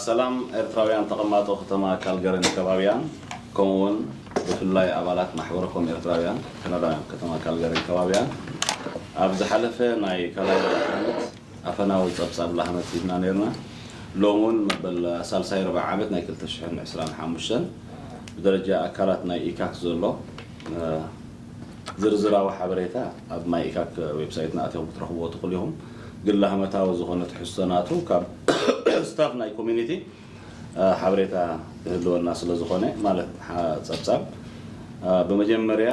ሰላም ኤርትራውያን ተቐማጦ ከተማ ካልገርን ከባቢኣን ከምኡ ውን ብፍላይ ኣባላት ማሕበረኮም ኤርትራውያን ከነዳውያን ከተማ ካልገርን ከባቢኣን ኣብ ዝሓለፈ ናይ ካልኣይ ሩብዒ ዓመት ኣፈናዊ ጸብጻብ ላህመት ሂብና ነይርና ሎሚ ውን መበል ሳልሳይ ርብዒ ዓመት ናይ ክልተ ሽሕን ዕስራን ሓሙሽተን ብደረጃ ኣካላት ናይ ኢካክ ዘሎ ዝርዝራዊ ሓበሬታ ኣብ ናይ ኢካክ ዌብሳይትና ኣቲኹም ክትረኽብዎ ትኽእሉ ኢኹም። ግን ላህመታዊ ዝኾነ ትሕዝቶ ናቱ ካብ ስታፍ ናይ ኮሚኒቲ ሓበሬታ ክህልወና ስለ ዝኾነ ማለት ጸብጻብ ብመጀመርያ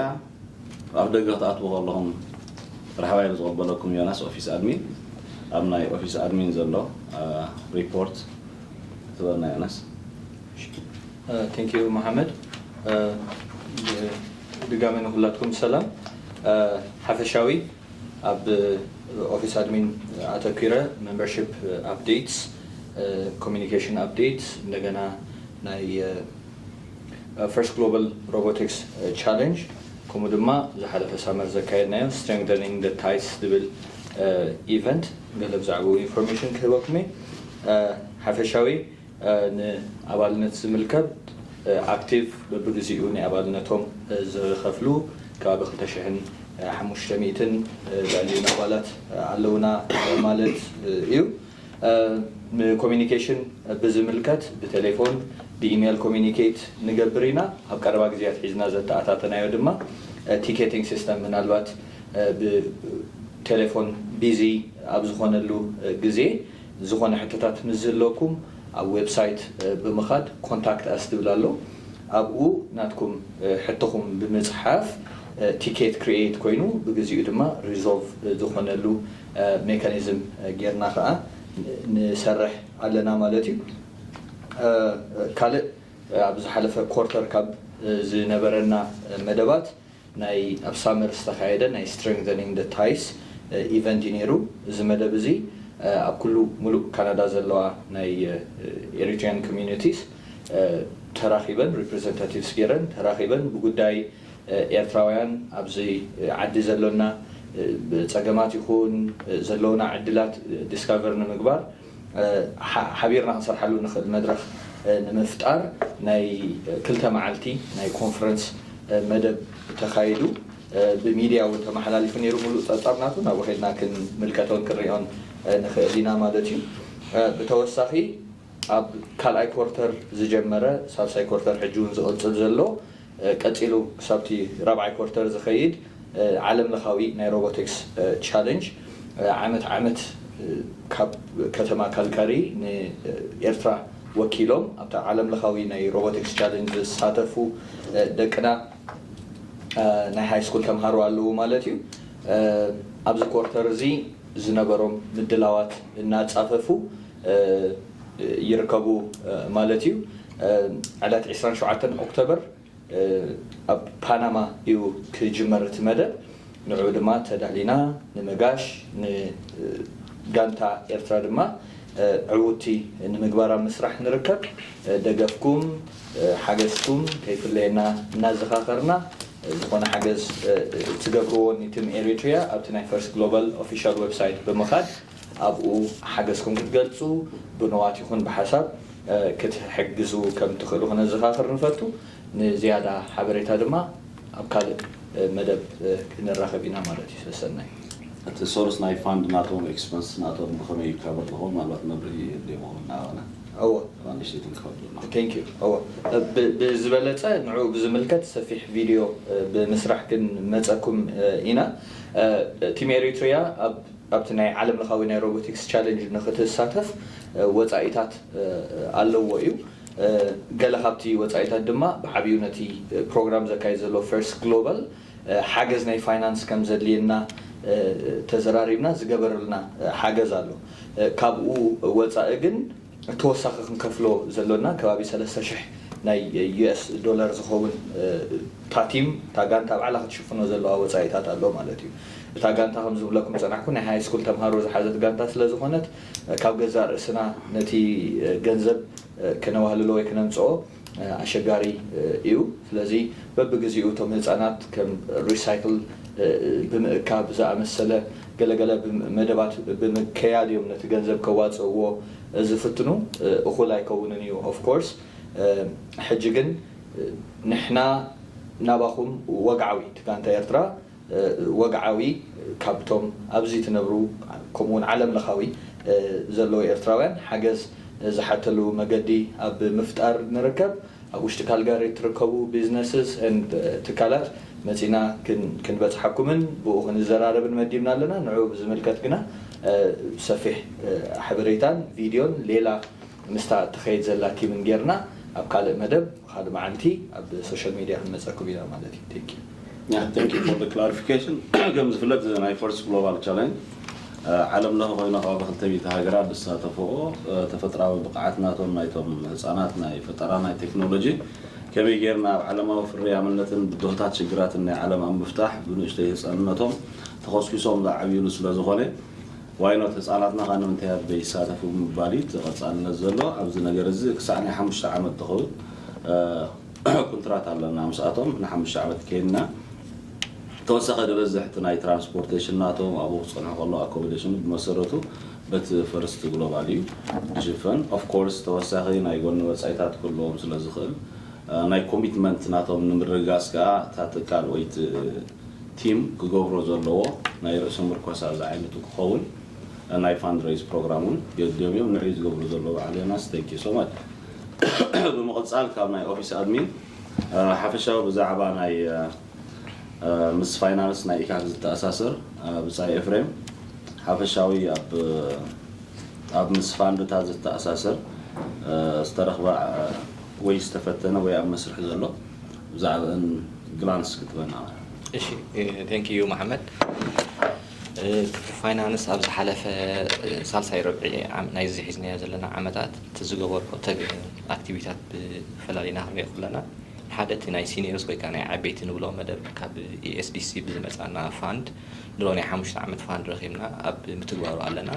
ኣብ ደገ ክትኣትዉ ከለኹም ራሕባይ ብዝቕበለኩም ዮናስ ኦፊስ ኣድሚን ኣብ ናይ ኦፊስ ኣድሚን ዘሎ ሪፖርት ትበልና ዮናስ። ቴንክ ዩ መሓመድ። ብድጋሚ ንኩላትኩም ሰላም ሓፈሻዊ ኣብ ኦፊስ ኣድሚን ኣተኲረ መምበርሺፕ ኣፕዴትስ ኮሙዩኒኬሽን ኣፕዴትስ እንደገና ናይ ፈርስት ግሎባል ሮቦቲክስ ቻሌንጅ ከምኡ ድማ ዝሓለፈ ሳመር ዘካየድናዮ ስትሬንግዘኒንግ ዘ ታይስ ዝብል ኢቨንት ገለ ብዛዕብኡ ኢንፎርሜሽን ክህበኩም እየ ሓፈሻዊ ንኣባልነት ዝምልከት ኣክቲቭ በብግዚኡ ናይ ኣባልነቶም ዝኸፍሉ ከባቢ ክልተ ሽሕን ሓሙሽተ ሚእትን ልዕሊኡን ኣባላት ኣለውና ማለት እዩ። ንኮሚኒኬሽን ብዝምልከት ብቴሌፎን ብኢሜል ኮሚኒኬት ንገብር ኢና። ኣብ ቀረባ ግዜ ኣትሒዝና ዘተኣታተናዮ ድማ ቲኬቲንግ ሲስተም ምናልባት ብቴሌፎን ቢዚ ኣብ ዝኾነሉ ግዜ፣ ዝኾነ ሕቶታት ምስ ዝህልወኩም ኣብ ዌብሳይት ብምኻድ ኮንታክት ኣስ ዝብል ኣሎ ኣብኡ ናትኩም ሕቶኹም ብምጽሓፍ ቲኬት ክርኤይት ኮይኑ ብግዚኡ ድማ ሪዞልቭ ዝኾነሉ ሜካኒዝም ጌርና ከኣ ንሰርሕ ኣለና ማለት እዩ። ካልእ ኣብ ዝሓለፈ ኮርተር ካብ ዝነበረና መደባት ናይ ኣብ ሳመር ዝተኻየደ ናይ Strengthening the Ties ኢቨንት'ዩ ነይሩ። እዚ መደብ እዚ ኣብ ኩሉ ሙሉእ ካናዳ ዘለዋ ናይ Eritrean Communities ተራኺበን Representatives ገይረን ተራኺበን ብጉዳይ ኤርትራውያን ኣብዚ ዓዲ ዘሎና ጸገማት ይኹን ዘለዉና ዕድላት Discover ንምግባር ሓቢርና ክንሰርሓሉ እንኽእል መድረኽ ንምፍጣር ናይ ክልተ መዓልቲ ናይ ኮንፈረንስ መደብ ተኻይዱ ብሚድያ እውን ተመሓላሊፉ ነይሩ ሙሉእ ፀብፃብ ናቱ ናብኡ ከይድና ክንምልከቶን ክንሪኦን ንኽእል ኢና ማለት እዩ ብተወሳኺ ኣብ ካልኣይ ኮርተር ዝጀመረ ሳልሳይ ኮርተር ሕጂ እውን ዝቕፅል ዘሎ ቀጺሉ ክሳብ'ቲ ራብዓይ ኮርተር ዝኸይድ ዓለምለኻዊ ናይ ሮቦቲክስ ቻለንጅ ዓመት ዓመት ካብ ከተማ ካልጋሪ ንኤርትራ ወኪሎም ኣብቲ ዓለምለኻዊ ናይ ሮቦቲክስ ቻለንጅ ዝሳተፉ ደቅና ናይ ሃይስኩል ተምሃሮ ኣለዉ ማለት እዩ። ኣብዚ ኮርተር እዚ ዝነበሮም ምድላዋት እናጻፈፉ፣ ይርከቡ ማለት እዩ። ዕለት ዕስራን ሸውዓተን ኦክቶበር ኣብ ፓናማ እዩ ክጅመር እቲ መደብ። ንዕኡ ድማ ተዳሊና ንመጋሽ፣ ንጋንታ ኤርትራ ድማ ዕውትቲ ንምግባር ኣብ ምስራሕ ንርከብ። ደገፍኩም ሓገዝኩም ከይፍለየና እናዘኻኸርና፣ ዝኾነ ሓገዝ እትገብርዎ ንቲም ኤሪትሪያ ኣብቲ ናይ ፈርስት ግሎባል ኦፊሻል ወብሳይት ብምኻድ፣ ኣብኡ ሓገዝኩም ክትገልጹ፣ ብንዋት ይኹን ብሓሳብ ክትሕግዙ ከም እትኽእሉ ክነዘኻኽር ንፈቱ። ንዝያዳ ሓበሬታ ድማ ኣብ ካልእ መደብ ክንራኸብ ኢና ማለት እዩ። ሰሰናዩ። እቲ ሶርስ ናይ ፋንድ ናቶም ኤክስፐንስ ናቶም ብከመይ ይካበር ዝከውን ምናልባት መብርሂ የድልዮ ምከውን ናባና እወ እባ ንእሽተይ ትንክፈት ብልና። Thank you እወ ብዝበለጸ ንዕኡ ብዝምልከት ሰፊሕ ቪድዮ ብምስራሕ ክንመጸኩም ኢና። ቲም ኤሪትሪያ ኣብ ኣብቲ ናይ ዓለም ለኻዊ ናይ ሮቦቲክስ ቻለንጅ ንክትሳተፍ ወፃኢታት ኣለዎ እዩ። ገለ ካብቲ ወፃኢታት ድማ ብዓብዩ ነቲ ፕሮግራም ዘካይድ ዘሎ ፈርስት ግሎባል ሓገዝ ናይ ፋይናንስ ከም ዘድልየና ተዘራሪብና ዝገበርልና ሓገዝ ኣሎ። ካብኡ ወፃኢ ግን፣ ተወሳኺ ክንከፍሎ ዘሎና ከባቢ ሰለስተ ሽሕ ናይ US ዶለር ዝኸውን እታ ቲም እታ ጋንታ ባዕላ ክትሽፍኖ ዘለዋ ወጻኢታት ኣሎ ማለት እዩ። እታ ጋንታ ከም ዝብለኩም ዝጸናሕኩ ናይ ሃይስኩል ተምሃሮ ዝሓዘት ጋንታ ስለ ዝኾነት ካብ ገዛእ ርእስና ነቲ ገንዘብ ከነዋህልሎ ወይ ክነምጽኦ ኣሸጋሪ እዩ ስለዚ በብግዚኡ እቶም ህፃናት ከም ሪሳይክል ብምእካብ ዝኣመሰለ ገለገለ መደባት ብምከያድ እዮም ነቲ ገንዘብ ከዋፅእዎ ዝፍትኑ እኹል ኣይከውንን እዩ ኦፍ ኮርስ ሕጂ ግን ንሕና ናባኹም ወግዓዊ እቲ ጋንታ ኤርትራ ወግዓዊ ካብቶም ኣብዚ ትነብሩ ከምኡ ውን ዓለም ለኻዊ ዘለዉ ኤርትራውያን ሓገዝ ዝሓተሉ መገዲ ኣብ ምፍጣር ንርከብ። ኣብ ውሽጢ ካልጋሪ እትርከቡ businesses and ትካላት መጺና ክንበጽሓኩምን ብኡ ክንዘራረብን መዲብና ኣለና። ንዑኡ ብዝምልከት ግና ሰፊሕ ሓበሬታን ቪድዮን ሌላ ምስታ እትኸይድ ዘላ ቲምን ጌርና ኣብ ካልእ መደብ ካልእ መዓልቲ ኣብ social media ክንመጸኩም ኢና ማለት እዩ። Thank you። Thank you for the clarification ከም ዝፍለጥ እዚ ናይ ፈርስት ግሎባል ቻለንጅ ዓለም ለኸ ኮይኑ ከባቢ ክልተ ሚእቲ ሃገራት ዝሳተፍኦ ተፈጥራዊ ብቕዓት ናቶም ናይቶም ህፃናት ናይ ፈጠራ ናይ ቴክኖሎጂ ከመይ ጌርና ኣብ ዓለማዊ ፍርያምነትን ብድሆታት ሽግራትን ናይ ዓለም ኣብ ምፍታሕ ብንእሽተይ ህፃንነቶም ተኾስኪሶም ዝዓብይሉ ስለዝኾነ ዋይ ኖት ህፃናትና ኸ ንምንታይ ኣብ ዘይሳተፉ ብምባል እዩ እቲ ቐፃልነት ዘሎ ኣብዚ ነገር እዚ ክሳዕ ናይ ሓሙሽተ ዓመት ዝኸውን ኩንትራት ኣለና ምስኣቶም ንሓሙሽተ ዓመት ኴንና ተወሳኸ ድበዝሕ እቲ ናይ ትራንስፖርቴሽን ናቶም ኣብኡ ክፀንሑ ከለዉ ኣኮመዴሽኑ ብመሰረቱ በቲ ፈርስት ግሎባል እዩ ድሽፈን ኦፍ ኮርስ ተወሳኺ ናይ ጎኒ ወፃኢታት ክህልዎም ስለ ዝኽእል ናይ ኮሚትመንት ናቶም ንምርግጋፅ ከዓ እታ ትካል ወይ እቲ ቲም ክገብሮ ዘለዎ ናይ ርእሲ ምርኮሳ ዝዓይነቱ ክኸውን ናይ ፋንድረይዝ ፕሮግራም እውን ገዲዮም እዮም ንዕኡ እዩ ዝገብሩ ዘለዉ በዓል ዮናስ ቴንኪ ሶ ማች ብምቕጻል ካብ ናይ ኦፊስ ኣድሚን ሓፈሻዊ ብዛዕባ ናይ ምስ ፋይናንስ ናይ ኢካክ ዝተኣሳሰር ብጻይ ኤፍሬም ሓፈሻዊ ኣብ ምስ ፋንድታት ዝተኣሳሰር ዝተረኽበ ወይ ዝተፈተነ ወይ ኣብ መስርሕ ዘሎ ብዛዕብእን ግላንስ ክትበና። እሺ ቴንኪዩ መሓመድ። ትርፊ ፋይናንስ ኣብ ዝሓለፈ ሳልሳይ ርብዒ ናይዚ ሒዝናዮ ዘለና ዓመታት እቲ ዝገበርዎ ተግን ኣክቲቪታት ብፈላሊ ናክሪኦ ከለና ሓደ እቲ ናይ ሲኒየርስ ወይ ከዓ ናይ ዓበይቲ ንብሎ መደብ ካብ ESDC ብዝመፃና ፋንድ ድሮ ናይ ሓሙሽተ ዓመት ፋንድ ረኪብና ኣብ ምትግባሩ ኣለና።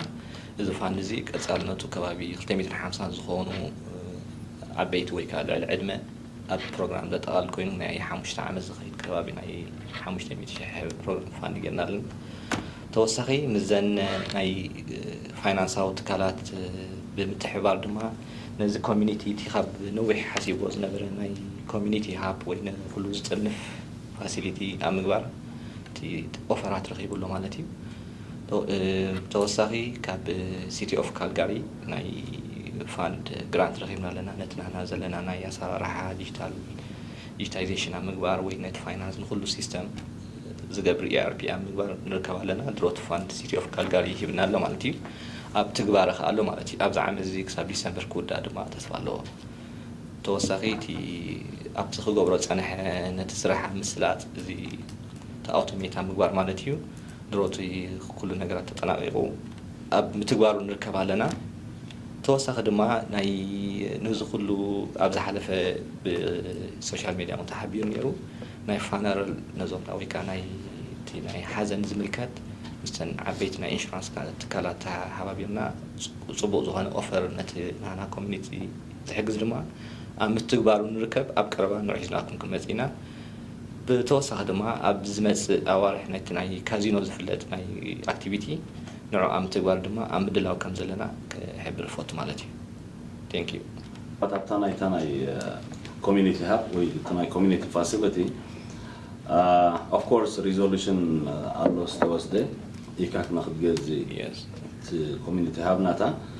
እዚ ፋንድ እዚ ቀፃልነቱ ከባቢ ክልተ ሚእትን ሓምሳን ዝኮኑ ዓበይቲ ወይ ከዓ ልዕሊ ዕድመ ኣብ ፕሮግራም ዘጠቓልል ኮይኑ ናይ ሓሙሽተ ዓመት ዝኸይድ ከባቢ ናይ ሓሙሽተ ሚእቲ ሽሕ ፕሮግራም ፋንድ ጌርና ኣለና። ተወሳኺ ምስዘን ናይ ፋይናንሳዊ ትካላት ብምትሕብባር ድማ ነዚ ኮሚኒቲ እቲ ካብ ነዊሕ ሓሲብዎ ዝነበረ ናይ ኮሚኒቲ ሃብ ወይ ንኹሉ ዝጥርንፍ ፋሲሊቲ ኣብ ምግባር እቲ ኦፈራት ረኺቡ ኣሎ ማለት እዩ። ብተወሳኺ ካብ ሲቲ ኦፍ ካልጋሪ ናይ ፋንድ ግራንት ረኺብና ኣለና። ነቲ ንሕና ዘለና ናይ ኣሰራርሓ ዲጂታል ዲጂታይዜሽን ኣብ ምግባር ወይ ነቲ ፋይናንስ ንኹሉ ሲስተም ዝገብር ERP ኣብ ምግባር ንርከብ ኣለና። ድሮ እቲ ፋንድ ሲቲ ኦፍ ካልጋሪ ሂብና ኣሎ ማለት እዩ። ኣብ ትግባረ ከኣ ኣሎ ማለት እዩ። ኣብዚ ዓመት እዚ ክሳብ ዲሰምበር ክውዳእ ድማ ተስፋ ኣለዎ። ብተወሳኺ እቲ ኣብቲ ክገብሮ ዝጸንሐ ነቲ ስራሕ ኣብ ምስላጥ እዚ እቲ ኣውቶሜት ኣብ ምግባር ማለት እዩ ድሮ እቲ ኩሉ ነገራት ተጠናቒቑ ኣብ ምትግባሩ ንርከብ ኣለና። ተወሳኺ ድማ ናይ ነዚ ኩሉ ኣብ ዝሓለፈ ብሶሻል ሜድያ እውን ተሓቢሩ ነይሩ ናይ ፋነረል ነዞም ናይ ወይ ከኣ ናይ እቲ ናይ ሓዘን ዝምልከት ምስተን ዓበይቲ ናይ ኢንሹራንስ ትካላት ተሓባቢርና ጽቡቕ ዝኾነ ኦፈር ነቲ ናህና ኮሚኒቲ ዝሕግዝ ድማ ኣብ ምትግባሩ ንርከብ ኣብ ቀረባ ንውሕ ሒዝናኩም ክንመጽእ ኢና። ብተወሳኺ ድማ ኣብ ዝመጽእ ኣዋርሕ ናይቲ ናይ ካዚኖ ዝፍለጥ ናይ ኣክቲቪቲ ንዑ ኣብ ምትግባር ድማ ኣብ ምድላው ከም ዘለና ክሕብር እፈቱ ማለት እዩ። Thank you። ምናልባት ኣብታ ናይታ ናይ ኮሚኒቲ ሃብ ወይ እቲ ናይ ኮሚኒቲ ፋሲለቲ ኦፍ ኮርስ ሪዞሉሽን ኣሎ ዝተወስደ ኢካክ ንክትገዝእ እቲ ኮሚኒቲ ሃብ ናታ፣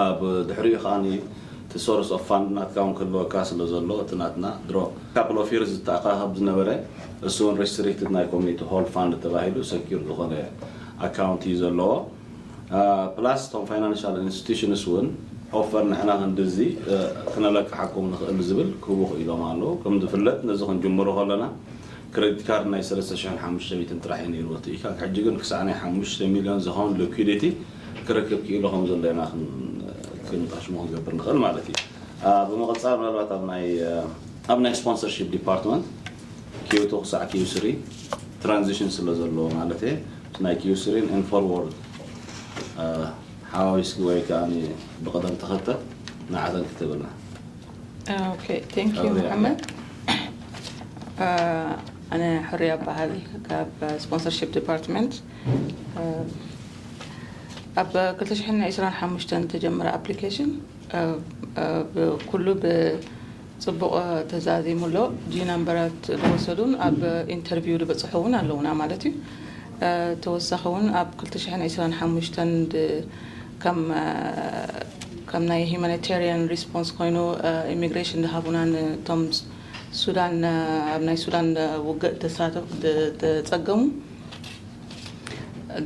ኣብ ድሕሪኡ ከኣ እቲ ሶርስ ኦፍ ፋንድ ናትካ ውን ክህልወካ ስለ ዘሎ እቲ ናትና ድሮ ካፕል ኦፍ ይርስ ዝተኣካከብ ዝነበረ እሱ ውን ሪስትሪክትድ ናይ ኮሚኒቲ ሆል ፋንድ ተባሂሉ ሰኪርድ ዝኮነ ኣካውንት እዩ ዘለዎ ፕላስ እቶም ፋይናንሻል ኢንስቲቱሽንስ ውን ኦፈር ንሕና ክንድዚ ክነለቅሓኩም ንክእል ዝብል ክህቡ ክኢሎም ኣለዉ ከም ዝፍለጥ ነዚ ክንጅምሮ ከለና ክረዲት ካርድ ናይ ሰለስተ ሽሕን ሓሙሽተ ሚእትን ጥራሕ እዩ ነይርዎ እቲ ኢካክ ሕጂ ግን ክሳዕ ናይ ሓሙሽተ ሚልዮን ዝኸውን ሊኲዲቲ ክረክብ ክኢሉ ከም ዘሎ ኢና ክንጠሽሞ ክንገብር ንኽእል ማለት እዩ ብምቕጻል ምናልባት ኣብ ናይ ኣብ ናይ ስፖንሰርሺፕ ዲፓርትመንት ኪዩ ቱ ክሳዕ ኪዩ ስሪ ትራንዚሽን ስለ ዘለዎ ማለት እየ ምስ ናይ ኪዩ ስሪን ን ፎርዎርድ ሓዋዊስኪ ወይ ከኣ ብቕደም ተኸተል ንዓተን ክትብልና ኦኬ ቴንክ ዩ ሕሩያ። መሓመድ ኣነ ሕሩያ እበሃል ካብ ስፖንሰርሺፕ ዲፓርትመንት ኣብ 225 ተጀመረ ኣፕሊኬሽን ኩሉ ብፅቡቕ ተዛዚሙ ኣሎ ጂ ናምበራት ዝወሰዱን ኣብ ኢንተርቪው ዝበፅሑ እውን ኣለውና ማለት እዩ ተወሳኺ እውን ኣብ 225 ከም ከም ናይ ሂማኒታርያን ሪስፖንስ ኮይኑ ኢሚግሬሽን ዝሃቡና ንቶም ሱዳን ኣብ ናይ ሱዳን ውግእ ተሳተፍ ተጸገሙ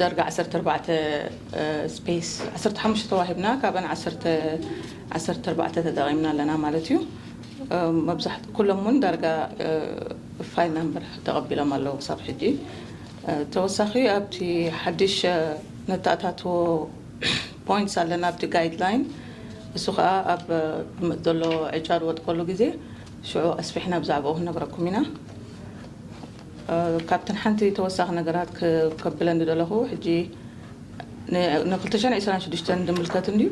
ደርጋ ዓሰርተ ኣርባዕተ ስፔስ ዓሰርተ ሓሙሽተ ተዋሂብና ካብን ዓሰርተ ዓሰርተ ኣርባዕተ ተጠቒምና ኣለና ማለት እዩ መብዛሕት ኩሎም እውን ዳርጋ ፋይል ናምበር ተቐቢሎም ኣለዉ ክሳብ ሕጂ ተወሳኺ ኣብቲ ሓድሽ ነተኣታትዎ ፖይንትስ ኣለና ኣብቲ ጋይድ ላይን እሱ ከኣ ኣብ ዝመጽእ ዘሎ ዕጫ ዝወድቀሉ ግዜ ሽዑ ኣስፊሕና ብዛዕባኡ ክንነግረኩም ኢና። ካብተን ሓንቲ ተወሳኺ ነገራት ከብለን ዝደለኹ ሕጂ ን ን ክልተ ሽሕን ዕስራን ሽዱሽተን ዝምልከት እንድዩ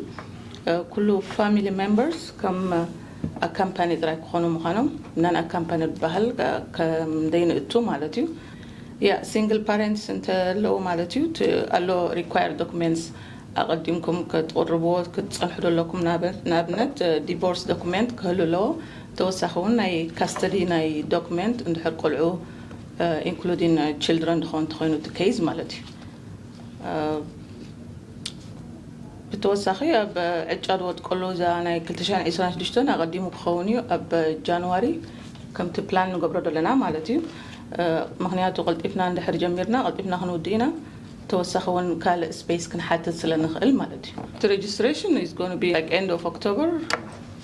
ኩሉ ፋሚሊ ሜምበርስ ከም ኣካምፓኒ ጥራይ ክኾኑ ምዃኖም ናን ኣካምፓኒ ዝብሃል ከም ዘይንእቱ ማለት እዩ። Yeah single parents እንተ ኣለዉ ማለት እዩ እቲ ኣሎ required documents ኣቐዲምኩም ክትቕርብዎ ክትጸንሑ ዶ ኣለኩም ንኣብነት divorce document ክህሉ ኣለዎ ተወሳኺ ውን ናይ custody ናይ document እንድሕር ቆልዑ including children ዝኸውን እንተኾይኑ እቲ case ማለት እዩ ብተወሳኺ ኣብ ዕጫ ዝወጥ ከሎ እዛ ናይ 2026 ኣቐዲሙ ክኸውን እዩ ኣብ ጃንዋሪ ከምቲ ፕላን ንገብሮ ዘለና ማለት እዩ ምኽንያቱ ቀልጢፍና እንድሕር ጀሚርና ቀልጢፍና ክንውድእ ኢና ተወሳኺ ውን ካልእ ስፔስ ክንሓትት ስለንኽእል ማለት እዩ። እቲ ሬጅስትሬሽን ኢዝ ጎነ ቢ ላይክ ኤንድ ኦፍ ኦክቶበር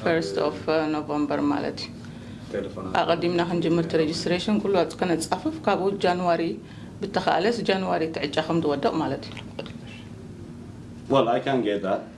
ፈርስት ኦፍ ኖቨምበር ማለት እዩ። ኣቐዲምና ክንጅምር እቲ ሬጅስትሬሽን ኩሉ ኣብቲ ከነጻፍፍ ካብኡ ጃንዋሪ ብተኻእለስ ጃንዋሪ እቲ ዕጫ ከምዝወድቕ ማለት እዩ። Well I can get that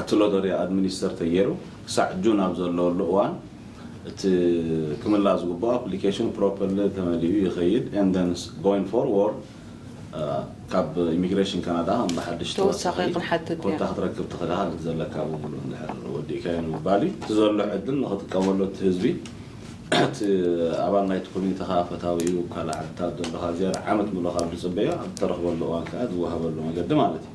እቲ ሎተሪ ኣድሚኒስተር ተገይሩ ክሳዕ ጁን ኣብ ዘለወሉ እዋን እቲ ክምላእ ዝግብኦ ኣፕሊኬሽን ፕሮፐርሊ ተመሊኡ ይኸይድ and then going forward ካብ ኢሚግሬሽን ካናዳ ብሓድሽ ተወሳኺ ኮታ ክትረክብ ትኽልሃል እቲ ዘለካ ብምሉእ እንድሕር ወዲእካዮ ንምባል እዩ። እቲ ዘሎ ዕድል ንኽጥቀመሉ እቲ ህዝቢ እቲ ኣባል ናይቲ ኮሚኒቲኻ ፈታዊ እዩ ካልእ ዓድታት ዘሎኻ ዝያዳ ዓመት ምሉእ ካብ ዝጽበዮ ኣብ እተረኽበሉ እዋን ከኣ ዝወሃበሉ መገዲ ማለት እዩ።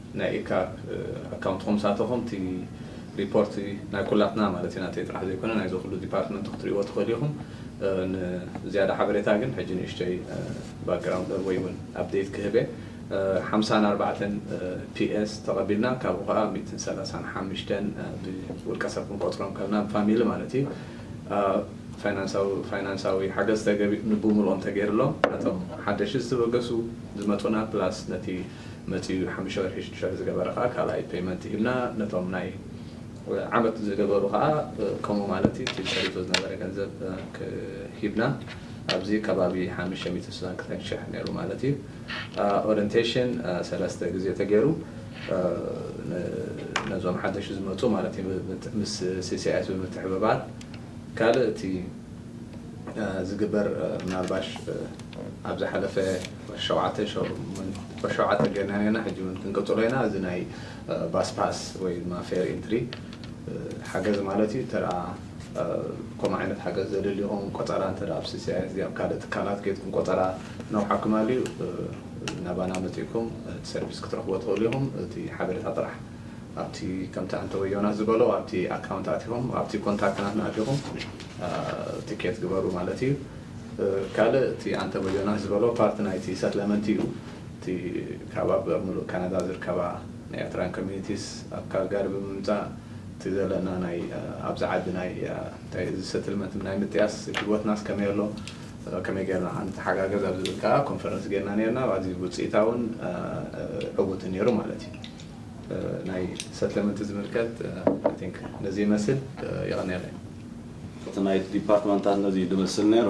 ናይ ኤካ ኣካውንት ኮምሳተኹም እቲ ሪፖርት ናይ ኩላትና ማለት እዩ ናተይ ጥራሕ ዘይኮነ ናይ ዘኹሉ ዲፓርትመንት ክትሪእዎ ትኽእሉ ኢኹም ን ዝያዳ ሓበሬታ ግን ሕጂ ንእሽተይ ባክግራውንድ ወይ ውን ኣፕዴት ክህብ እየ ሓምሳን ኣርባዕተን PS ተቐቢልና ካብኡ ከኣ ሚእትን ሰላሳን ሓምሽተን ብ ውልቀ ሰብ ክንቆጽሮም ከለና ብ ፋሚሊ ማለት እዩ ፋይናንሳዊ ፋይናንሳዊ ሓገዝ ተገቢ ንብሙሉኦም ተገይርሎም ነቶም ሓደሽቲ ዝተበገሱ ዝመጹና ፕላስ ነቲ መጺኡ ሓሙሽተ ወርሒ ሽዱሽተ ወርሒ ዝገበረ ከኣ ካልኣይ ፐይመንት ሂብና ነቶም ናይ ዓመት ዝገበሩ ከኣ ከምኡ ማለት እዩ እቲ ጸሪቱ ዝነበረ ገንዘብ ሂብና ኣብዚ ከባቢ ሓምሽተ ሚእትን ስሳን ክልተን ሽሕ ነይሩ ማለት እዩ ኦረንቴሽን ሰለስተ ግዜ ተገይሩ ነዞም ሓደሽቲ ዝመጹ ማለት እዩ ምስ ሲሲኣይስ ብምትሕብባር ካልእ እቲ ዝግበር ምናልባሽ ኣብ ዝሓለፈ ሸውዓተ ሸው ሸውዓተ ገርና ኔርና ሕጂ ውን ክንቅጽሎ ኢና እዚ ናይ ባስ ፓስ ወይ ድማ ፌር ኢንትሪ ሓገዝ ማለት እዩ እንተ ከምኡ ዓይነት ሓገዝ ዘድሊኹም ቆጸራ እንተ ኣብ ሲሲኣይኤስ ድዩ ኣብ ካልእ ትካላት ኬድኩም ቆጸራ ክነውሓኩም ኣልዩ ናባና መጺእኩም እቲ ሰርቪስ ክትረኽብዎ ትኽእሉ ኢኹም እቲ ሓበሬታ ጥራሕ ኣብቲ ከምቲ ኣንተወ ዮናስ ዝበሎ ኣብቲ ኣካውንት ኣቲኹም ኣብቲ ኮንታክት ናትና ኣቲኹም ትኬት ግበሩ ማለት እዩ ካልእ እቲ ኣንቶኒ ዮናስ ዝበሎ ፓርቲ ናይቲ ሰትለመንት እዩ እቲ ካብ ኣብ ምሉእ ካናዳ ዝርከባ ናይ ኤርትራውያን ኮሚኒቲስ ኣብ ካልጋሪ ብምምጻእ እቲ ዘለና ናይ ኣብዚ ዓዲ ናይ እንታይ እዚ ሰትልመንት ናይ ምጥያስ ሂወትናስ ከመይ ኣሎ ከመይ ጌርና ከ ንተሓጋገዝ ኣብ ዝብል ከኣ ኮንፈረንስ ጌርና ኔርና ኣዝዩ ውጽኢታውን ዕውትን ኔሩ ማለት እዩ ናይ ሰትለመንት ዝምልከት ኣይ ቲንክ ነዚ ይመስል የቐንየለይ። እቲ ናይቲ ዲፓርትመንታት ነዚ እዩ ዝመስል ነይሩ።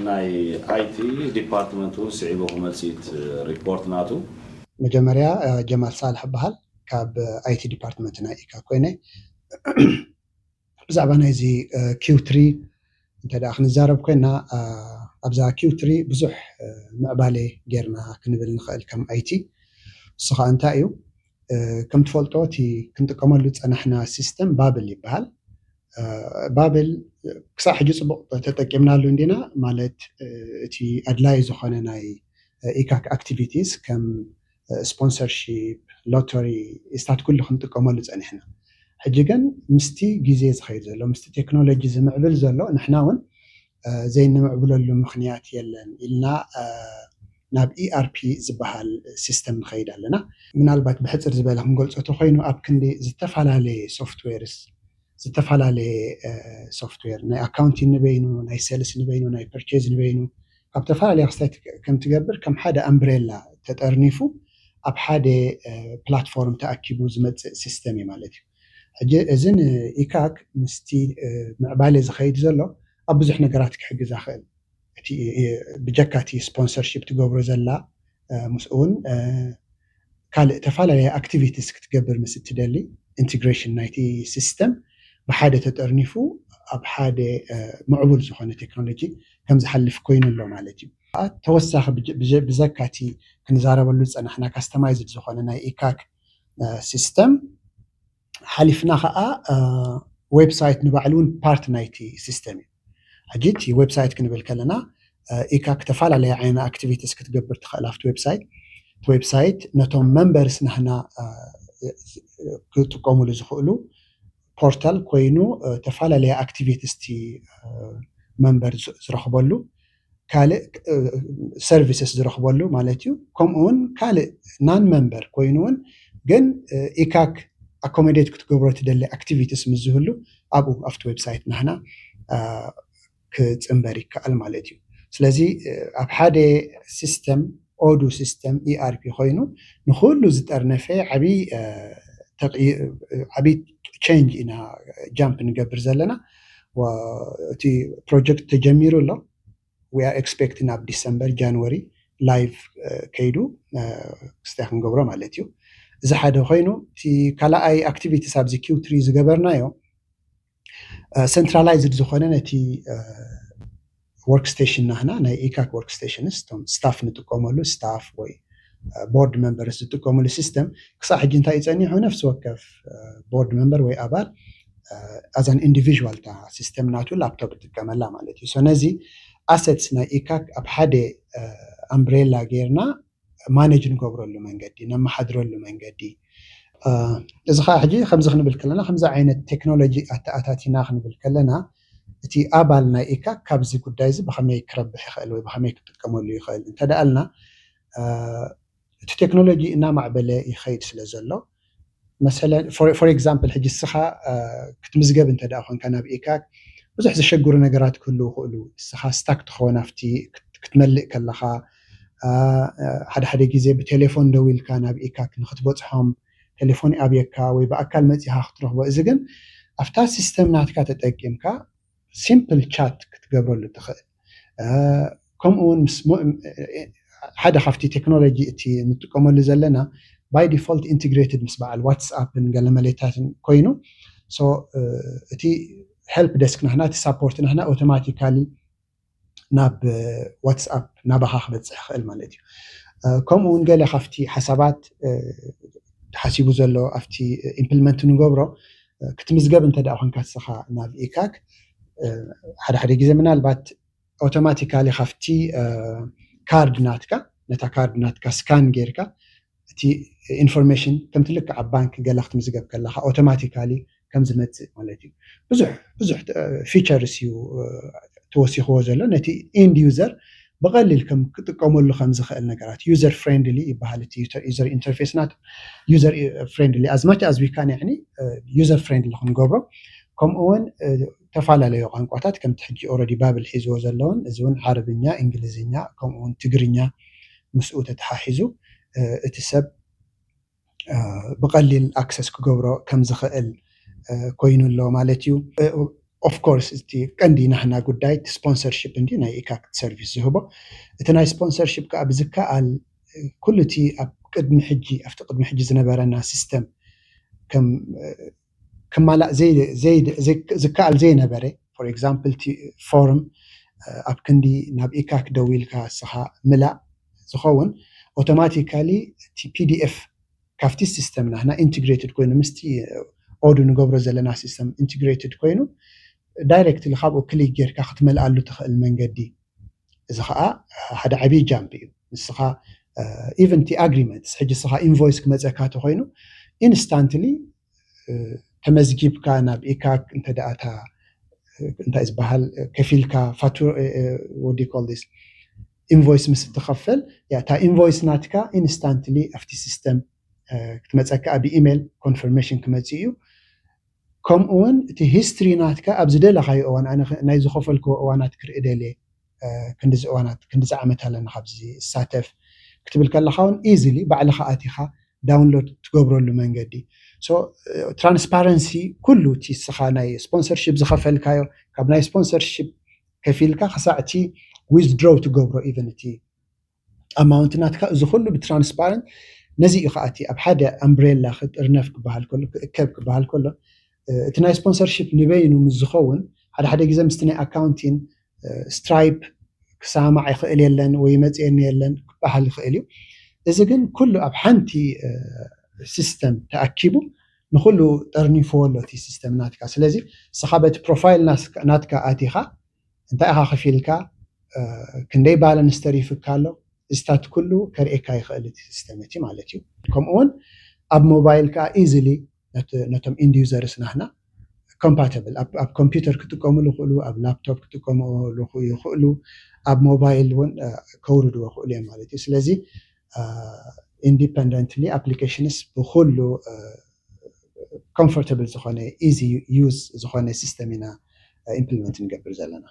ናይ ኣይቲ ዲፓርትመንት እውን ስዒቡ ክመፅእት ሪፖርት ናቱ። መጀመርያ ጀማል ሳልሕ እባሃል ካብ ኣይቲ ዲፓርትመንት ናይ ኢጋግ ኮይነ ብዛዕባ ናይዚ ኪው ትሪ እንተ ደኣ ክንዛረብ ኮይና ኣብዛ Q3 ብዙሕ ምዕባሌ ጌርና ክንብል ንኸእል ከም IT እሱ ከኣ እንታይ እዩ ከም ትፈልጦ እቲ ክንጥቀመሉ ዝጸናሕና ሲስተም ባብል ይበሃል ባብል ክሳዕ ሕጂ ጽቡቕ ተጠቂምናሉ እንዲና ማለት እቲ ኣድላዪ ዝኾነ ናይ ኢካክ ኣክቲቪቲስ ከም ስፖንሰርሺፕ፣ ሎተሪ እስታት ኩሉ ክንጥቀመሉ ጸኒሕና። ሕጂ ግን ምስቲ ግዜ ዝኸይድ ዘሎ፣ ምስቲ ቴክኖሎጂ ዝምዕብል ዘሎ ንሕና እውን ዘይንምዕብለሉ ምኽንያት የለን ኢልና ናብ ERP ዝበሃል ሲስተም ንኸይድ ኣለና። ምናልባት ብሕጽር ዝበለ ክንገልጾ ተኾይኑ ኣብ ክንዲ ዝተፈላለየ ሶፍትዌርስ ዝተፈላለየ ሶፍትዌር ናይ ኣካውንቲን ንበይኑ፣ ናይ ሴልስ ንበይኑ፣ ናይ ፐርቼዝ ንበይኑ፣ ኣብ ተፈላለያ ክስታይ ከም ትገብር ከም ሓደ ኣምብሬላ ተጠርኒፉ ኣብ ሓደ ፕላትፎርም ተኣኪቡ ዝመጽእ ሲስተም እዩ ማለት እዩ። ሕጂ እዚ ን ኢካክ ምስቲ ምዕባሌ ዝከይድ ዘሎ ኣብ ብዙሕ ነገራት ክሕግዛ ክእል እቲ ብጀካ እቲ ስፖንሰርሺፕ ትገብሮ ዘላ ምስኡ ውን ካልእ ተፋላለየ ኣክቲቪቲስ ክትገብር ምስ እትደሊ ኢንቲግሬሽን ናይቲ ሲስተም ብሓደ ተጠርኒፉ ኣብ ሓደ ምዕቡል ዝኾነ ቴክኖሎጂ ከም ዝሓልፍ ኮይኑ ኣሎ ማለት እዩ። ተወሳኺ ብዘካ እቲ ክንዛረበሉ ዝጸናሕና ካስተማይዝድ ዝኾነ ናይ ኢካክ ሲስተም፣ ሓሊፍና ከኣ ዌብ ሳይት ንባዕሉ ውን ፓርት ናይቲ ሲስተም እዩ። ሕጂ እቲ ዌብ ሳይት ክንብል ከለና ኢካክ ተፈላለየ ዓይነ ኣክቲቪቲስ ክትገብር ትኸእል ኣብቲ ዌብ ሳይት። እቲ ዌብ ሳይት ነቶም መንበርስ ናህና ክጥቀሙሉ ዝኽእሉ ፖርታል ኮይኑ ተፋላለየ ኣክቲቪቲስ እቲ መንበር ዝረኽበሉ ካልእ ሰርቪስስ ዝረኽበሉ ማለት እዩ። ከምኡ እውን ካልእ ናን መንበር ኮይኑ እውን ግን ኢካክ ኣኮሞዴት ክትገብሮ ትደሊ ኣክቲቪቲስ ምስ ዝህሉ ኣብኡ ኣብቲ ዌብሳይት ናህና ክፅንበር ይከኣል ማለት እዩ። ስለዚ ኣብ ሓደ ሲስተም ኦዱ ሲስተም፣ ERP፣ ኮይኑ ንኹሉ ዝጠርነፈ ዓብይ ቸንጅ ኢና ጃምፕ ንገብር ዘለና። እቲ ፕሮጀክት ተጀሚሩ ኣሎ። ዊ ኣር ኤክስፔክቲንግ ኣብ ዲሰምበር ጃንዋሪ ላይቭ ከይዱ ክስታይ ክንገብሮ ማለት እዩ። እዚ ሓደ ኮይኑ እቲ ካልኣይ ኣክቲቪቲስ ኣብዚ Q3 ዝገበርናዮ ሰንትራላይዝድ ዝኾነ ነቲ ወርክስቴሽን ናህና ናይ ኢካክ ወርክስቴሽንስ እቶም ስታፍ ንጥቀመሉ ስታፍ ወይ ቦርድ መንበርስ ዝጥቀሙሉ ሲስተም ክሳብ ሕጂ እንታይ ጸኒሑ ነፍሲ ወከፍ ቦርድ መንበር ወይ ኣባል ኣዛን ኢንዲቪዥዋል እታ ሲስተም ናቱ ላፕቶፕ ይጥቀመላ ማለት እዩ ነዚ ኣሰትስ ናይ ኢካክ ኣብ ሓደ ኣምብሬላ ጌርና ማነጅ ንገብረሉ መንገዲ ነመሓድረሉ መንገዲ እዚ ከዓ ሕጂ ከምዚ ክንብል ከለና ከምዚ ዓይነት ቴክኖሎጂ ኣተኣታቲና ክንብል ከለና እቲ ኣባል ናይ ኢካክ ካብዚ ጉዳይ እዚ ብከመይ ክረብሕ ይኽእል ወይ ብከመይ ክጥቀመሉ ይኽእል እንተደኣልና እቲ ቴክኖሎጂ እናማዕበለ ይኸይድ ስለዘሎ መሰለን for example ሕጂ ንስኻ ክትምዝገብ እንተ ድኣ ኮንካ ናብ ኤካክ ብዙሕ ዘሸግሩ ነገራት ክህልዉ ይኽእሉ ንስኻ ስታክ ትኾን ኣብቲ ክትመልእ ከለኻ ሓደ ሓደ ግዜ ብቴሌፎን ደዊልካ ናብ ኤካክ ንኽትበጽሖም ቴሌፎን ይኣብየካ ወይ ብኣካል መጺኻ ክትረኽቦ እዚ ግን ኣብታ ሲስተም ናትካ ተጠቂምካ ሲምፕል ቻት ክትገብረሉ ትኽእል ከምኡ ውን ምስ ሓደ ካብቲ ቴክኖሎጂ እቲ ንጥቀመሉ ዘለና ባይ ዲፎልት ኢንትግሬትድ ምስ በዓል ዋትስኣፕን ገለ መሌታትን ኮይኑ እቲ ሄልፕ ደስክ ናህና እቲ ሳፖርት ናህና ኦቶማቲካሊ ናብ ዋትስኣፕ ናባኻ ክበፅሕ ይኽእል ማለት እዩ። ከምኡ እውን ገለ ካብቲ ሓሳባት ተሓሲቡ ዘሎ ኣብቲ ኢምፕልመንት ንገብሮ ክትምዝገብ እንተደኣ ኮንካ ንስኻ ናብ ኢካክ ሓደ ሓደ ግዜ ምናልባት ኣውቶማቲካሊ ካብቲ ካርድ ናትካ ነታ ካርድ ናትካ ስካን ጌርካ እቲ ኢንፎርሜሽን ከምቲ ልክዕ ኣብ ባንኪ ገለ ክትምዝገብ ከለኻ ኦቶማቲካሊ ከም ዝመጽእ ማለት እዩ። ብዙሕ ብዙሕ ፊቸርስ እዩ ተወሲኽዎ ዘሎ ነቲ ኢንድ ዩዘር ብቐሊል ከም ክጥቀመሉ ከም ዝኽእል ነገራት ዩዘር ፍሬንድሊ ይበሃል እቲ ዩዘር ኢንተርፌስ ናቱ ዩዘር ፍሬንድሊ ኣዝ ማች ኣዝ ዊ ካን ያኒ ዩዘር ፍሬንድሊ ክንገብሮ ከምኡውን ተፈላለዩ ቋንቋታት ከምቲ ሕጂ ኦረዲ ባብል ሒዝዎ ዘለውን እዚ እውን ዓረብኛ፣ እንግሊዝኛ ከምኡውን ትግርኛ ምስኡ ተተሓሒዙ እቲ ሰብ ብቀሊል ኣክሰስ ክገብሮ ከምዝኽእል ኮይኑ ኣሎ ማለት እዩ። ኦፍ ኮርስ እቲ ቀንዲ ናህና ጉዳይ እቲ ስፖንሰርሺፕ እንድዩ ናይ ኢካክት ሰርቪስ ዝህቦ እቲ ናይ ስፖንሰርሺፕ ከኣ ብዝከኣል ኩሉ እቲ ኣብ ቅድሚ ሕጂ ኣብቲ ቅድሚ ሕጂ ዝነበረና ሲስተም ከም ክማላእ ዝከኣል ዘይነበረ for example እቲ ፎርም ኣብ ክንዲ ናብ ኢካክ ደዊልካ እስኻ ምላእ ዝኸውን ኦቶማቲካሊ እቲ pdf ካብቲ ሲስተም ናህና ኢንትግሬትድ ኮይኑ ምስቲ ኦዱ ንገብሮ ዘለና ሲስተም ኢንትግሬትድ ኮይኑ ዳይረክትሊ ካብኡ ክሊክ ጌርካ ክትመልኣሉ ትኽእል መንገዲ እዚ ከኣ ሓደ ዓብይ ጃምፕ እዩ ንስኻ ኢቨን እቲ ኣግሪመንትስ ሕጂ ንስኻ ኢንቮይስ ክመፀካ ተኾይኑ ኢንስታንትሊ ተመዝጊብካ ናብ ኢካክ እንተ እታ እንታይ ዝበሃል ከፊልካ ፋቱ ወዲ ኮልስ ኢንቮይስ ምስ እትኸፈል እታ ኢንቮይስ ናትካ ኢንስታንትሊ ኣብቲ ሲስተም ክትመፀካ ብኢሜል ኮንፈርሜሽን ክመፅእ እዩ ከምኡ ውን እቲ ሂስትሪ ናትካ ኣብ ዝደለካዮ እዋን ኣነ ናይ ዝከፈልክዎ እዋናት ክርኢ ደልየ ክንድዚ እዋናት ክንድዚ ዓመት ኣለኒ ካብዚ ዝሳተፍ ክትብል ከለካ ውን ኢዝሊ ባዕልካ ኣቲካ ዳውንሎድ ትገብረሉ መንገዲ so ትራንስፓረንሲ ኩሉ እቲ እስካ ናይ ስፖንሰርሺፕ ዝከፈልካዮ ካብ ናይ ስፖንሰርሺፕ ከፊልካ ክሳዕ እቲ ዊዝድሮው ትገብሮ ኢቭን እቲ ኣማውንቲ ናትካ እዚ ኩሉ ብትራንስፓረንት ነዚ እዩ ከዓ እቲ ኣብ ሓደ ኣምብሬላ ክጥርነፍ ክበሃል ከሎ ክእከብ ክበሃል ከሎ እቲ ናይ ስፖንሰርሺፕ ንበይኑ ምስ ዝኸውን ሓደ ሓደ ግዜ ምስቲ ናይ ኣካውንቲን ስትራይፕ ክሰማማዕ ይኽእል የለን ወይ ይመፅየኒ የለን ክበሃል ይኽእል እዩ እዚ ግን ኩሉ ኣብ ሓንቲ ሲስተም ተኣኪቡ ንኹሉ ጠርኒፍዎ ኣሎ እቲ ሲስተም ናትካ ስለዚ ንስኻ በቲ ፕሮፋይል ናትካ ኣቲኻ እንታይ ኢኻ ክፊልካ ክንደይ ባለንስ ተሪፍካ ኣሎ እዚታት ኩሉ ከርእየካ ይኽእል እቲ ሲስተም እቲ ማለት እዩ ከምኡ ውን ኣብ ሞባይል ከኣ ኢዝሊ ነቶም ኢንድ ዩዘርስ ናህና ኮምፓተብል ኣብ ኮምፒተር ክጥቀምሉ ይኽእሉ ኣብ ላፕቶፕ ክጥቀምሉ ይኽእሉ ኣብ ሞባይል ውን ከውርድዎ ይኽእሉ እዮም ማለት እዩ ስለዚ ኢንዲፐንደንትሊ ኣፕሊኬሽንስ ብኹሉ ኮምፎርተብል ዝኾነ ኢዚ ዩዝ ዝኾነ ሲስተም ኢና ኢምፕሊመንት ንገብር ዘለና።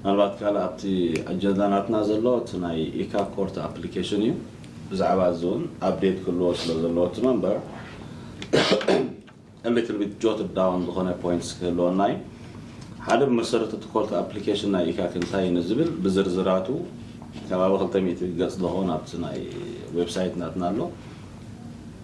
ምናልባት ካልእ ኣብቲ ኣጀንዳ ናትና ዘሎ እቲ ናይ ኢካ ኮርት ኣፕሊኬሽን እዩ። ብዛዕባ እዚ እውን ኣፕዴት ክህልዎ ስለ ዘለዎ እቲ መንበር a little bit jotted down ዝኾነ ፖይንትስ ክህልወና እዩ። ሓደ ብመሰረት እቲ ኮርት ኣፕሊኬሽን ናይ ኢካክ እንታይ እዩ ንዝብል ብዝርዝራቱ ከባቢ ክልተ ሚእቲ ገፅ ዝኾን ኣብቲ ናይ ዌብሳይት ናትና ኣሎ።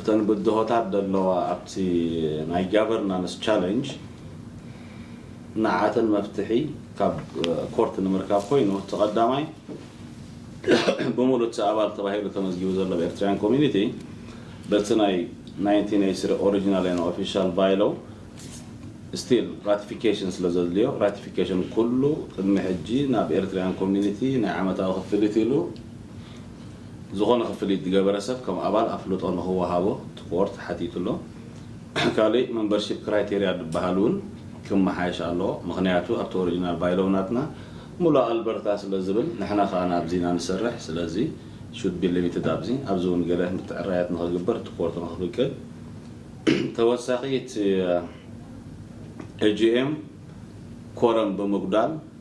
እተን ብድሆታት ደለዋ ኣብቲ ናይ ጋቨርናንስ ቻለንጅ ንዓኣተን መፍትሒ ካብ ኮርት ንምርካብ ኮይኑ እቲ ቀዳማይ ብሙሉእ እቲ ኣባል ተባሂሉ ተመዝጊቡ ዘሎ ብ ኤርትርያን ኮሚኒቲ በቲ ናይ ናይንቲን ኤይቲ ስሪ ኦሪጅናል ኤን ኦፊሻል ባይሎው ስቲል ራቲፊኬሽን ስለ ዘድልዮ ራቲፊኬሽን ኩሉ ቅድሚ ሕጂ ናብ ኤርትርያን ኮሚኒቲ ናይ ዓመታዊ ክፍሊት ኢሉ ዝኾነ ክፍሊት ዝገበረ ሰብ ከም ኣባል ኣፍልጦ ንክወሃቦ እቲ ቦርድ ሓቲቱ ኣሎ። ካሊእ መምበርሺፕ ክራይቴርያ ዝበሃል እውን ክመሓየሽ ኣለዎ። ምኽንያቱ ኣብቲ ኦሪጅናል ባይሎው ናትና ሙሉእ ኣልበርታ ስለ ዝብል ንሕና ከዓ ናብዚ ኢና ንሰርሕ ስለዚ should be limited ኣብዚ ኣብዚ እውን ገለ ምትዕራያት ንክግበር እቲ ቦርድ ንክፍቅድ ተወሳኺ እቲ ኤጂኤም ኮረም ብምጉዳል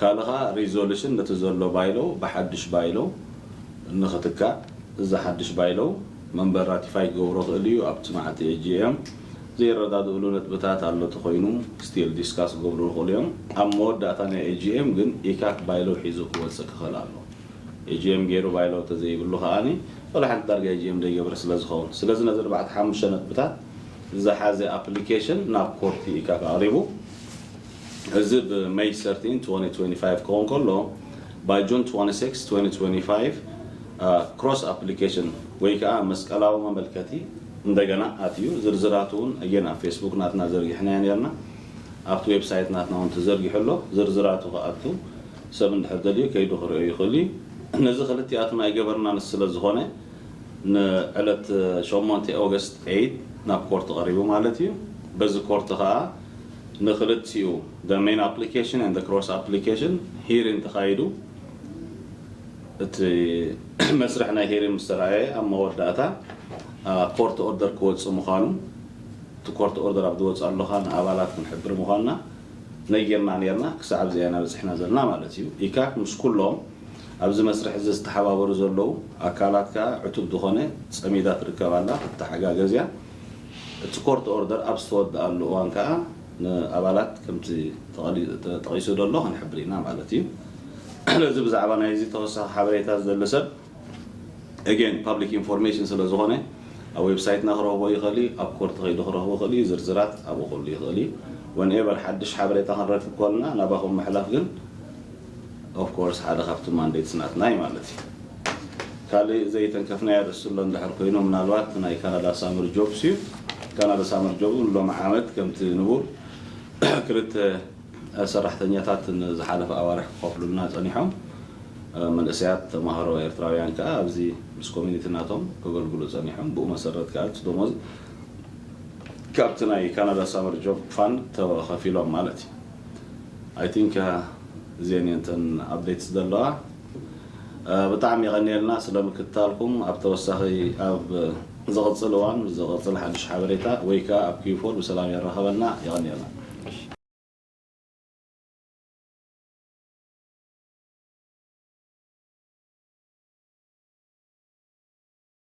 ካልእ ከኣ ሪዞሉሽን ነቲ ዘሎ ባይሎ ብሓዱሽ ባይሎ ንኽትካእ እዚ ሓዱሽ ባይሎ መንበር ራቲፋይ ክገብሮ ክእል እዩ ኣብቲ መዓልቲ ሕጂ እዮም ዘይረዳድእሉ ነጥብታት ኣሎ ተኾይኑ ስቲል ዲስካስ ክገብሩ ይኽእሉ እዮም ኣብ መወዳእታ ናይ ኤጂኤም ግን ኢካክ ባይሎ ሒዙ ክወጽእ ክኽእል ኣሎ ኤጂኤም ጌሩ ባይሎ ተዘይብሉ ከኣኒ ወላ ሓንቲ ዳርጋ ኤጂኤም ዘይገብረ ስለ ዝኸውን ስለዚ ነዚ ኣርባዕተ ሓሙሽተ ነጥብታት ዝሓዘ ኣፕሊኬሽን ናብ ኮርቲ ኢካክ ኣቕሪቡ እዚ ብ May thirteen, twenty twenty five ክኸውን ከሎ by June twenty six, twenty twenty five cross application ወይ ከኣ መስቀላዊ መመልከቲ እንደገና ኣትዩ ዝርዝራቱ ውን ኣጌን ኣብ ፌስቡክ ናትና ዘርጊሕናዮ ኔርና ኣብቲ ዌብሳይት ናትና ውን ተዘርጊሑ ኣሎ ዝርዝራቱ ክኣቱ ሰብ እንድሕር ደልዩ ከይዱ ክርእዮ ይኽእሉ እዩ ነዚ ክልቲኣቱን ኣይገበርናን ስለ ዝኾነ ን ዕለት ሸሞንተ August eight ናብ ኮርት ቐሪቡ ማለት እዩ በዚ ኮርት ከኣ ንክልቲኡ the main application and the cross application hearing ተኻይዱ እቲ መስርሕ ናይ hearing ምስ ተራእየ ኣብ መወዳእታ ኮርት ኦርደር ክወፅእ ምዃኑ እቲ ኮርት ኦርደር ኣብ ዝወፅኣሉ ኸኣ ንኣባላት ክንሕብር ምዃንና ነጊርና ነርና ክሳዕ ኣብዚኣ ኢና በፂሕና ዘለና ማለት እዩ ኢካክ ምስ ኩሎም ኣብዚ መስርሕ እዚ ዝተሓባበሩ ዘለዉ ኣካላት ከኣ ዕቱብ ዝኾነ ፀሚዳ ትርከብ ኣላ ክትተሓጋገዝ እያ እቲ ኮርት ኦርደር ኣብ ዝተወደኣሉ እዋን ከኣ ንኣባላት ከምቲ ተጠቒሱ ዘሎ ክንሕብር ኢና ማለት እዩ። ስለዚ ብዛዕባ ናይዚ ተወሳኺ ሓበሬታ ዝደሊ ሰብ Again ፓብሊክ ኢንፎርሜሽን ስለ ዝኾነ ኣብ ዌብሳይትና ክረኽቦ ይኽእል እዩ፣ ኣብ ኮርት ከይዱ ክረኽቦ ይኽእል እዩ፣ ዝርዝራት ኣብኡ ክህሉ ይኽእል እዩ። Whenever ሓድሽ ሓበሬታ ክንረክብ ከሎና ናባኹም ምሕላፍ ግን Of course ሓደ ካብቲ Mandates ናትና እዩ ማለት እዩ። ካልእ ዘይተንከፍናዮ ርእሲ ኣሎ እንድሕር ኮይኑ ምናልባት እቲ ናይ Canada Summer Jobs እዩ። Canada Summer Jobs እውን ሎሚ ዓመት ከምቲ ንቡር ክልተ ሰራሕተኛታት ንዝሓለፈ ኣዋርሕ ክኸፍሉልና ጸኒሖም። መንእሰያት ተማሃሮ ኤርትራውያን ከኣ ኣብዚ ምስ Community ናቶም ከገልግሉ ጸኒሖም። ብኡ መሰረት ከኣ እቲ ደሞዝ ካብቲ ናይ Canada Summer Job Fund ተኸፊሎም ማለት እዩ። ኣይ ቲንክ እዚኤን እየን እተን ኣፕዴትስ ዘለዋ። ብጣዕሚ የቐንየልና ስለ ምክትታልኩም። ኣብ ተወሳኺ ኣብ ዝቕጽል እዋን ምስ ዝቕጽል ሓድሽ ሓበሬታ ወይ ከኣ ኣብ ኪዩ ፎር ብሰላም የራኸበና። የቐንየልና።